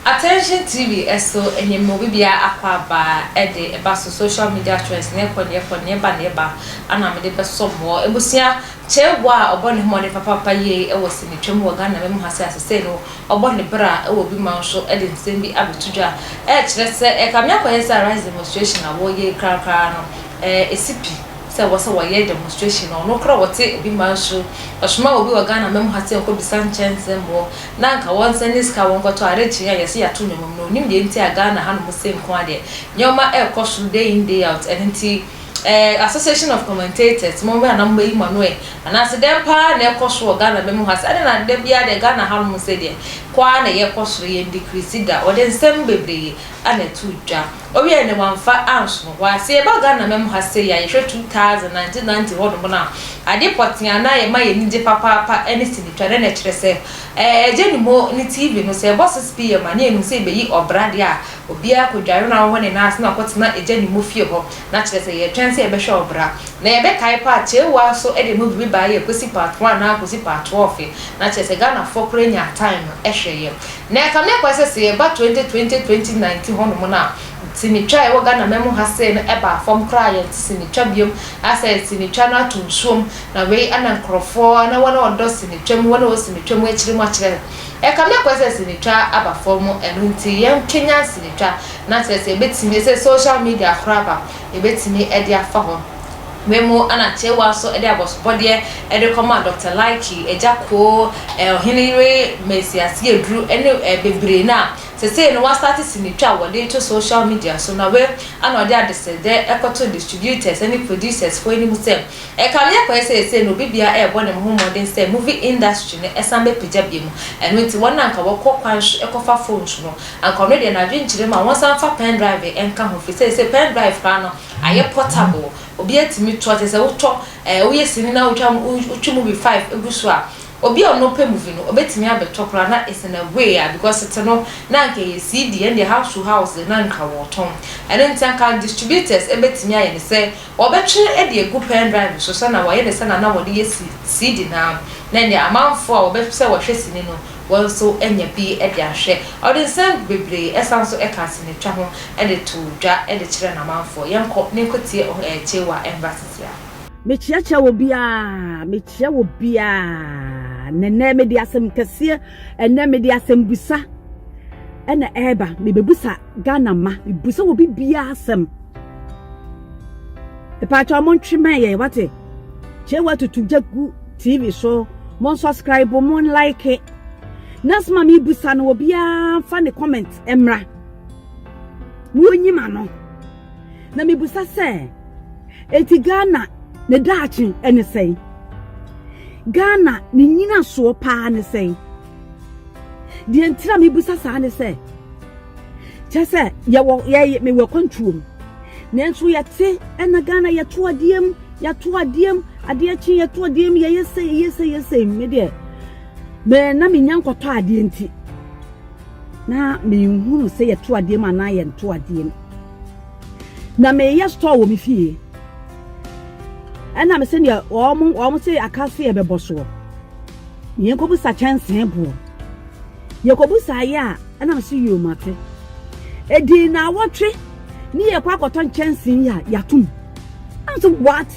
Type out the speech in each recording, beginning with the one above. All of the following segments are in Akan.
Attention TV so nye ma obibia akɔ aba de ba so social media trends ne kɔ ne kɔ ne ba ne ba ana mede bɛsɔ mo ebusua Cheguah a ɔbɔ ne homɔden papapa yie wɔ sinitwam wɔ Ghana mɛmu ha se asesei no Ɔbɔ ne bra wɔ bi man so de nsɛm bi abɛto dwa a ɛkyerɛ sɛ ɛkame akɔyɛ sɛ Arise demonstration a wɔyɛ yi korakoraa no ɛsi pi sɛ wɔsɛ wɔyɛ demonstration no. Ɔno koraa ɔte obi man so, ɔsoma obi wɔ Ghana mmamu ha sɛ ɔnkɔ bisa nkyɛn nsɛmmɔ na anka wɔn nsa nni sika a wɔnkɔtɔ ade kyen a yɛse yɛato nneɛma mu no. Ɔnim deɛ nti a Ghana hanom se nko ara deɛ nneɛma ɛrekɔ so day in day out ɛno nti. Ɛɛ Association of Commentators, mo bɛn na mobeyi mo ano ɛ? Anaase dɛn paa na ɛkɔ so wɔ Ghana bɛ mu ha sɛ adɛn na da biara deɛ Ghana ha nom sɛ deɛ kɔ ara na yɛkɔ soro, yɛn decrease da, wɔde nsɛm bebree ana ɛto dwa. Ɔwiɛɛ no wɔamfa ansono hɔ ara. Sɛ yɛba Ghana bɛ mu ha sei a, yɛhwɛ 2000, 1990 hɔ nom no a, adeɛ pɔtee a na ɛma yɛn ani gye papaapa ɛne sini twa, dɛn na ɛkyerɛ sɛ? Ɛɛ Agya Nim Hɔ ne TV no sɛ ɛbɔ 6 PM a na yɛnim sɛ yɛbeyi ɔbra deɛ a Obiara kɔdware na ɔwɔ ne nan ase na ɔkɔtena agya ne mu fie hɔ, na kyerɛ sɛ yɛretwɛn sɛ yɛbɛhwɛ ɔbra. Na yɛbɛkae mpo a, Chewa so de mu biribi baeɛ yɛ Kwesi Part One anaa Kwesi Part Twɔɔfe, na kyerɛ sɛ Ghanafoɔ koraa nyaa time no hwɛeɛ. Na ɛkame akɔ sɛ sɛ yɛba 2020, 2019 hɔnom no a, sinitwa a ɛwɔ Ghanaman mu ha sei no baa fam koraa a yɛnte sinitwa biom, asɛ sinitwa no ato nsuom, na wei na nkorɔfoɔ, na wɔn a wɔdɔ sinitwa mu, wɔn a wɔwɔ sinitwa mu akyiri mu akyerɛ. Ɛkame akɔ sɛ sinitwa aba fam ɛno nti yɛn kanyan sinitwa na kyerɛ sɛ yɛbɛtumi ɛsɛ social media horow aba yɛbɛtumi de afa hɔ wei mu ɛna kyerewa nso de abɔsobɔdeɛ ɛde kɔ ma Doctor Laiki agya koo ɛɛ ɔhene yere Mercy Asieaduru ɛne ɛɛ bebree na sesei no wasate sinitwa wɔde to social media so na wei ɛna ɔde adesrɛdɛ ɛkɔto distributors ɛne producers foɔ anim sɛ Ɛkame akɔ yɛ sɛ ɛsei no obi biara ɛɛbɔ ne ho mmɔden sɛ movie industry no ɛsan bɛ pagya biom ɛno nti wɔn a anka wɔkɔ kwan so ɛkɔ fa phones no anka ɔno deɛ n'adwene nkyere ma wɔn san mfa pendrive ɛnka ho firi sɛ ɛsei pendrive koraa no ayɛ portable obi atumi tɔ kyerɛ sɛ wo tɔ ɛɛ wo yɛ sini na wo twa wo twi movie five ɛgu so a obi a ɔno pɛ movie no ɔbɛtumi abɛ tɔ koraa na it's in a way a because tete no na anka ɛyɛ CD ɛndeɛ house to house na anka wɔtɔn ɛno nti anka distributors ɛbɛtumi ayɛ ne sɛ Wɔbɛtwere de agu pen drive so sɛnea wɔyɛ no sɛnea na wɔde yɛ CD no ara, na ɛnde amanfo a wɔbɛpɛ sɛ wɔhwɛ sini no, wɔn nso anya bi de ahwɛ. Ɔde nsɛm bebree san nso ka asenitwa ho de to dwa de kyerɛ n'amanfo. Yɛnkɔ na yɛnkɔtie Chewa Mbrasesia. Mekyeakyea obiara, mekyea obiara, na ɛnnɛ mede asɛm kɛseɛ, ɛnnɛ mede asɛmbusa ɛna ɛreba, mebebusa Ghana mma, mebusa obi biara asɛm. Mpakyɛ ɔmo ntwe mɛn yɛn wate. Kyɛ watutu gya gu TV so. Mo nsɔskraibo, mo nlaeke. Nasɛm a mebusa no obiara mfa ne kɔmɛnt mmra. Na onyim ano. Na mebusa sɛ, enti Ghana ne daakye ne sɛn? Ghana ne nyinasoɔ paa ne sɛn? deɛ nti na mebisa saa ne sɛ kyɛ sɛ yɛwɔ yɛyɛ mewɔ kwantuo mu nanso yɛte ɛna ghana yɛto adeɛ mu yɛto adeɛ mu adeɛ kye yɛto adeɛ mu yɛyɛ sɛ yɛyɛ sɛ yɛyɛ sɛ me deɛ mɛ na menya nkɔtɔ adeɛ nti na menhunu sɛ yɛto adeɛ mu anaa yɛnto adeɛ mu na meyɛ store wɔ me fie ɛna me sɛ deɛ wɔn wɔn sɛ aka se yɛbɛbɔ soɔ. Yɛnkɔbisa kyɛnsee boɔ. Yɛkɔbisaaeɛ a, ɛna me se yoo mate. Ɛdii nnawɔtwe ne yɛkɔ akɔtɔ nkyɛnsee yi a yɛatom. Ɛna se what?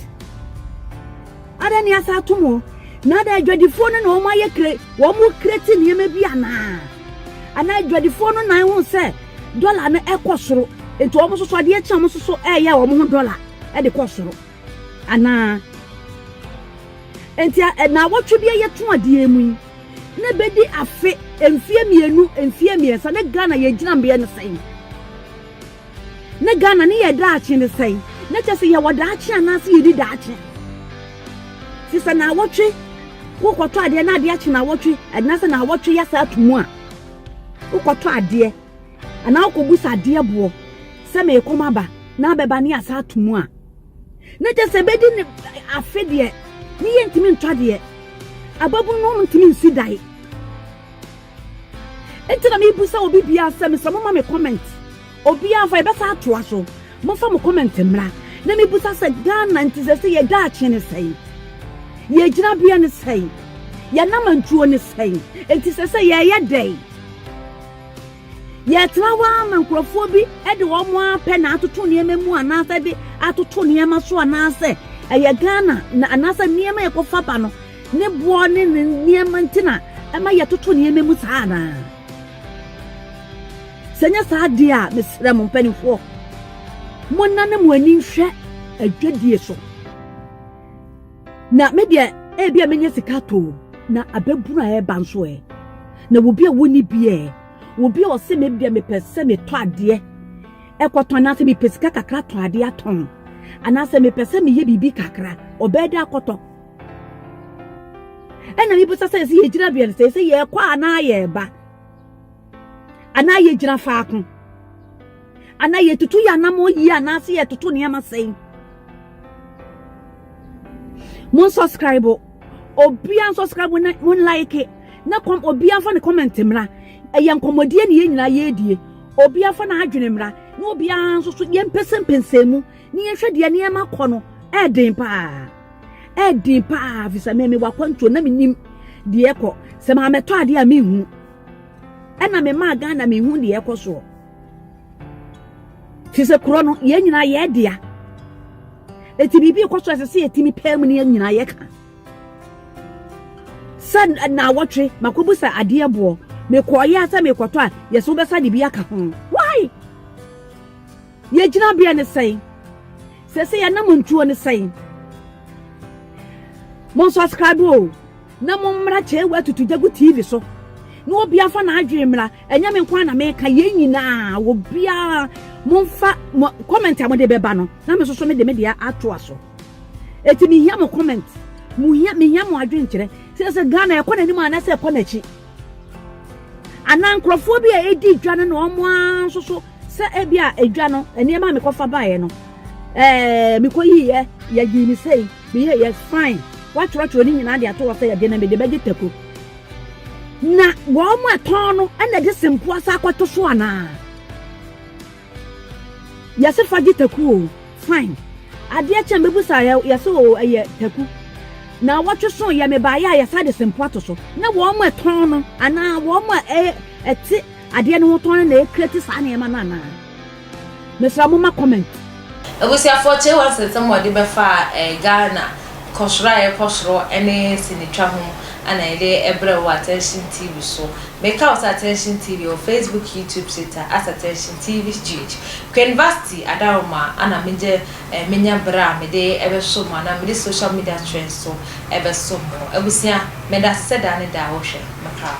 Adɛn ne asa atom o? Na adɛn adwadifoɔ no na wɔn ayɛ kre wɔn kreti nneɛma bi anaa? Anaa adwadifoɔ no nan ho sɛ dɔla no ɛkɔ soro nti wɔn nso so adeɛ kye a wɔn nso so ɛyɛ wɔn ho dɔla ɛde kɔ soro. Anaa? Enti a nnawɔtwe bi a yɛto adeɛ mu yi, na ɛbɛdi afe, mfeɛ mmienu, mfeɛ mmiɛnsa, na Ghana yɛ gyinambeɛ ne sɛn? Na Ghana ne yɛ daakye ne sɛn? Na kyɛ sɛ yɛwɔ daakye anaasɛ yɛdi daakye? Te sɛ nnawɔtwe, wokɔtɔ adeɛ na adeɛ akye nnawɔtwe, anaasɛ nnawɔtwe yɛ saa to mu a, wokɔtɔ adeɛ, anaa wokɔbu sɛ adeɛ boɔ, sɛ meekɔm aba, na abɛba ne yɛ asa ato mu a, na kyɛ sɛ bɛdi ne afe deɛ ne yɛ ntumi ntɔ adeɛ ababunu no ntumi nsi dan nti na mebu sɛ obi bia sɛ mesɛ moma me comment obiaa fa yɛbɛsa atoa so mofa mo comment mmra na mebusa sɛ ghana nti sɛ sɛ yɛda akye ne sɛe yɛgyina bea ne sɛe yɛnam antuo ne sɛe nti sɛ sɛ yɛyɛ dɛn Yɛtena hɔ ara ma nkurɔfoɔ bi de wɔn ara pɛ na atoto nneɛma mu anaasɛ de atoto nneɛma so anaasɛ ɛyɛ Ghana na anaasɛ nneɛma yɛkɔfa ba no ne boɔ ne ne nneɛma nti na ɛma yɛtoto nneɛma mu saa anaa? Sɛ nyɛ saa deɛ a mesrɛ mo mpanimfoɔ monna ne mo ani nhwɛ adwadie so. Na me deɛ, ebia menya sika atɔ o, na ababunu a ɛreba nso ɛ? Na obi a wonni bi ɛ? Obi a ɔse me deɛ mepɛ sɛ metɔ adeɛ ɛkɔtɔn anaasɛ mepɛ sika kakra tɔ adeɛ atɔn anaasɛ mepɛ sɛ meyɛ biribi kakra ɔbɛɛ dɛ akɔtɔ. Ɛna mebisa sɛ ɛsɛ yɛgyina bea no sɛ ɛsɛ yɛkɔ anaa yɛba anaa yɛgyina faako. Anaa yɛtutu yɛ anammɔn yie anaase yɛtoto nneɛma sɛn? Mo nsubscribe obiara nsubscribe mo na mo like na kɔm obiara fa ne comment mmra ɛyɛ nkɔmmɔdie ne yɛn nyinaa yɛredie obiara fa n'adwene mmra na obiara nso so yɛn mpɛsɛmpɛsɛ mu ne yɛn hwɛ deɛ nneɛma kɔ no ɛɛden paa ɛɛden paa fisɛ mɛ mi wakwantuo na mi nim deɛ kɔ sɛ maa mɛtɔ adeɛ a mi hu ɛna mi maa Ghana mi hu deɛ kɔ soɔ. Te sɛ kuro no, yɛn nyinaa yɛn dea. Eti biribi kɔ so ɛsɛ sɛ yɛtumi pɛɛ mu ne yɛn nyinaa yɛka. Sɛ naawɔtwe makɔbu sɛ adeɛ boɔ mekɔɔyɛ sɛ mekɔtɔ a yɛsɛ wobɛsa de bi aka ho. Why? Yɛgyina beɛ ne sɛn? Sɛ sɛ yɛnam ntuo ne sɛn? Mo subscribe o. Na mommra kyɛewa atutu gya gu TV so na obiara fa n'adwene mmra ɛnyɛ me nko ara na meka yɛn nyinaa obiara momfa mo comment a mode bɛba no na me soso me de me deɛ atoa so eti mehia mo comment mo hia mehia mo adwene kyerɛ sɛ sɛ Ghana ɛkɔ n'anim anaasɛ ɛkɔ n'akyi anaa nkurɔfoɔ bi a ɛdi dwa no na wɔn ara nso so sɛ ebi a edwa no nneɛma a mekɔfa baeɛ no ɛɛ mekɔyiiɛ yɛyii ne sɛi Meyɛ yɛ fine watwerɛtwerɛ ne nyinaa de ato hɔ sɛ yɛde na mede bɛgye tako na wɔn mo ɛtɔn no ɛna de sempoa sa akɔto so anaa yɛse fa gye taku o fine adeɛ kyɛn bɛbusa yɛse o ɛyɛ taku na wɔtwe so yɛ mebaeɛ a yɛsa de sempoa to so na wɔn mo ɛtɔn no anaa wɔn mo ɛte adeɛ no ho tɔn no na ɛkreti saa nneɛma no anaa Mesra mo ma comment. Abusuafoɔ Kyei One Sensɛm a wɔde bɛfa Ghana nkɔsoro a ɛrekɔ soro ne sinitwa ho na yɛde brɛ wo wɔ Attention TV so. Meka wo sɛ Attention TV ɛwɔ Facebook, YouTube, Twitter as Attention TVGH. Queen Vasti Adaroma na megyɛ menya berɛ a mede bɛso mo anaa mede social media trends so bɛso mo. Abusua, meda ase sɛ daa ne daa wohwɛ. Mekra wo.